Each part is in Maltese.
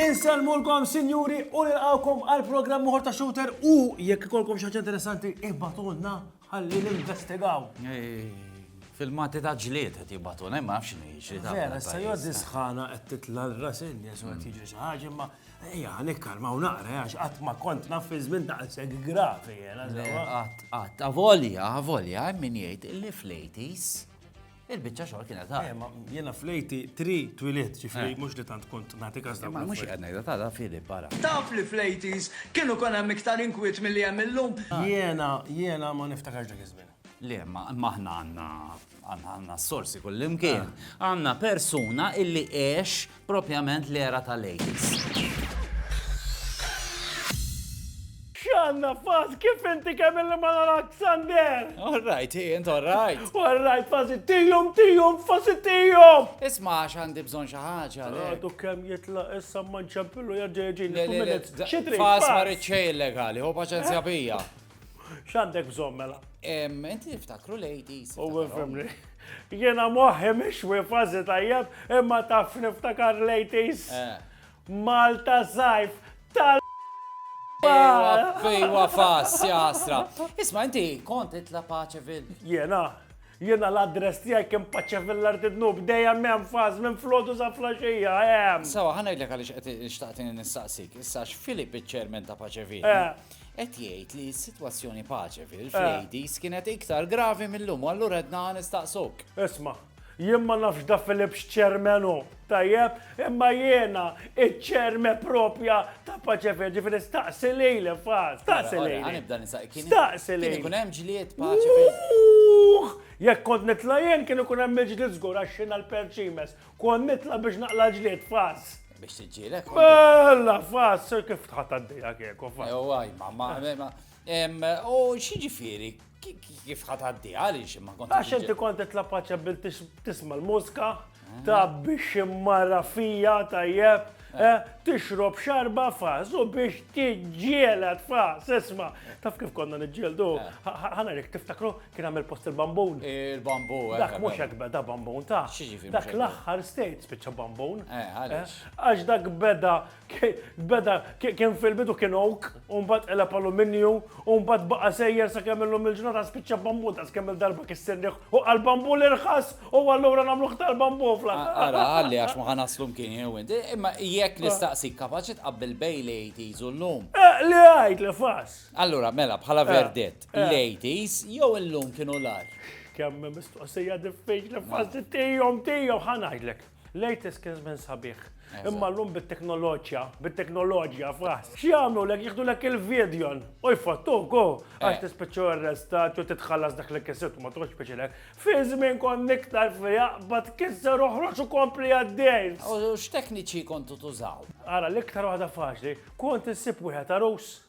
Inselmulkom, sinjuri, u nilqawkom għal programm uħor ta' shooter u jekk ikolkom xi ħaġa interessanti ibbatulna ħalli ninvestigaw. Fil-mati ta' ġlied qed jibbatulna, ma nafx x'inhi ġlied. Vera, sa jgħoddi sħana qed titla' l-rasin, jesu qed jiġri xi ħaġa, imma Ejja, nikkalmaw naqra, għax qatt ma kont naf fi żmien daqshekk gravi jena. Qatt, qatt, avolja, avolja, min jgħid li flejtis il-bicċa xogħol kienet ta' eh, Jena flejti tri twilit ġifri eh. mhux li tant kont nagħti każ Ma mhux qed ngħidha ta' fili barra. Taf li flejtis kienu kon hemm iktar inkwiet milli hemm illum. Jena, jena ma niftakarx dak iż-żmien. Le, ma aħna għanna għanna s-sorsi kullimkien. Ah. Għanna persuna illi eħx propjament l-era tal-AIDS. Xanna faz, kif inti kemm illi ma narak Sander? All right, hi, int all right. All right, faz tijum, tijum, faz tijum. Isma, xandi bżon xaħġa. Għadu kem jitla issa manċapilu jaġġeġin. Xitri, faz marriċċej illegali, ho paċenzja bija. X'għandek bżonn mela? Inti niftakru ladies. U fimni. Jiena moħħi mhix wifażi tajjeb imma taf niftakar ladies. Eh. Malta sajf tal Fejwa fas, jasra. Isma, inti kont itla Paċevil. Jena, jena l-adress tijaj kem Paċevil l-arti dnub, dejjem mem fas, mem flodu sa flasġija, jem. Sawa, ħana jillek għalix xtaqtin nistaqsik, issa x'Filip iċ-ċermen ta' Paċevil. Eh. Qed jgħid li s-sitwazzjoni pace fil-Frejdies kienet iktar gravi mil-lum u allura ridna nistaqsuk. Isma', jien ma nafx Da Philip x'chairman hu, tajjeb, imma jiena iċ-chairman propja ta' Pace Fil, ġifieri staqsi lili fa, staqsi lili. Ora, nibda nistaqsi, kien ikun hemm ġlied Pace Fil? Uuhh! Jekk kont nitla' jien kien ikun hemm il-ġlied żgur għax jiena l-perċimes. Kont nitla biex naqla ġlied fas. Biex tiġġielek. Bella fas, sir kif tħadd għaddejja kieku fas. Ew għaj, ma ma ma. U xieġifieri, kif ħadd għaddejja għaliex ma kont. Għax inti kont titla paċja bil tisma l-mużka, mm. ta' biex immarra fija tajjeb. Tixrob xarba fas u biex tiġġieled fas, isma. Taf kif konna niġġieldu? Ħana rik tiftakru kien għamil post il-bambun. Il-bambu. Eh, dak mhux hekk beda bambun ta. Dak l-aħħar state spiċċa bambun. Eh, eh, għax dak beda beda kien fil-bidu kien oak. u mbagħad qeleb aluminju, u mbagħad baqa' sejjer sakemm illum il-ġurnata spiċċa bambu ta' skemm il-darba kissirnieh u għal bambu l-irħas u allura nagħmluh tal-bambu fl Ara, għalli għax ma ħanaslu mkien jew inti, imma jekk ah. nistaqsik kapaċi tqabbel bej l-80s u llum. Eh, li għajt li fas. Allura, mela, bħala eh, verdett, eh. l-80s jew illum kienu l-ar. Kemm mistoqsija diffiċli fas tijom tijom ħanajdlek. Latest kien żmien sabiħ. Imma llum bit-teknoloġja, bit-teknoloġja f'ras. X'jagħmlu lek jieħdu lek il-vidjon u jfottuk u għax eh. tispiċċu arrestat u titħallas dak li kisibtu ma tkunx biċilek. Fi żmien kon iktar fiha bad kisser oħroġ u kompli għaddej. U x'tekniċi kontu tużaw? Ara l-iktar waħda faċli, kont insib wieħed arus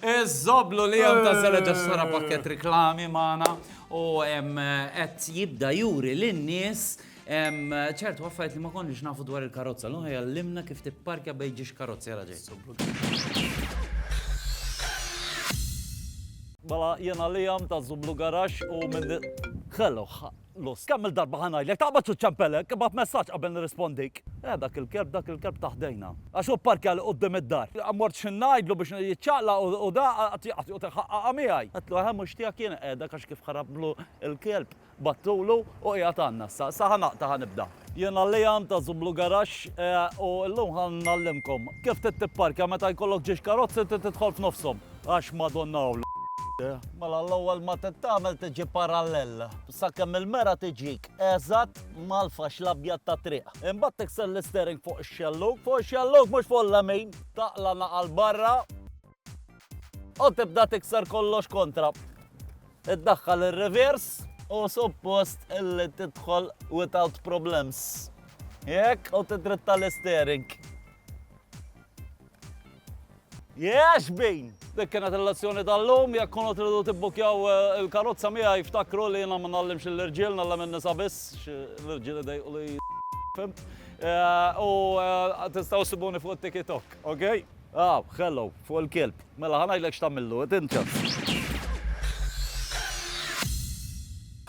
Iż-żoblu li hemm ta' żeled għax sara pakkett riklami magħna u qed jibda juri lin-nies ċertu affarijiet li ma konniex nafu dwar il-karozza. L-lum jgħallimna kif tipparkja bejn ġiex karozzi għal ġej. Mela jiena Liam ta' Żublu Garaxx u minn. Ħellu. Lus, kemm-il darba ħa ngħidlek, taqbadx u ċċempelek, ibgħat messaġġ qabel nirrispondik. Eh, dak il-kelb, dak il-kelb ta' ħdejna. Għax hu pparkja li quddiem id-dar. Mort xi ngħidlu biex jiċċaqlaq u, u da, qatt, qatt joqgħod iħaqqaqha miegħi. Għedtlu, eħe, mhux tiegħek jiena qiegħda, għax kif ħarabtlu l-kelb, battulu u qiegħed għandna issa. Issa ħa naqta' ħa nibda. Jiena Liam ta' Zublu Garage u llum ħa ngħallimkom kif trid tipparkja meta jkollok ġiex karozzi trid tidħol f'nofshom għax Madonna u Mela l-ewwel ma trid tagħmel tiġi parallel sakemm il-mera tiġik eżatt mal-faxx l-abjad tat-triq. Imbagħad tikser l-isteering fuq ix-xellug, fuq ix-xellug mhux fuq l-lemin, taqla' naqa' 'l barra, U tibda tikser kollox kontra. Iddaħħal ir-reverse u suppost illi tidħol without problems. Jekk u tidritta l-istering. Jex bin! Dik kienet il-lezzjoni tal-lum, jekk kunu tridu tibbukjaw eh, il-karozza miegħi jftakru li jiena ma nallimx l-irġiel, nallem in-nisa biss, l-irġiel idejqu li fimt. Eh, u eh, tistgħu sibuni fuq TikTok, ok? Aw, hello, fuq il-kelb. Mela, ħa ngħidlek x'tagħmillu, id inti.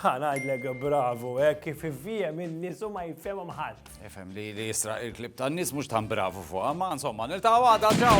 Ħa ngħidlek bravu, hekk kif ifhiem in-nies u ma jifhemhom ħadd. Ifhem li li jisraq il-klib tan-nies mhux tan bravu fuqha, ma insomma niltaqgħu għada, ċaw!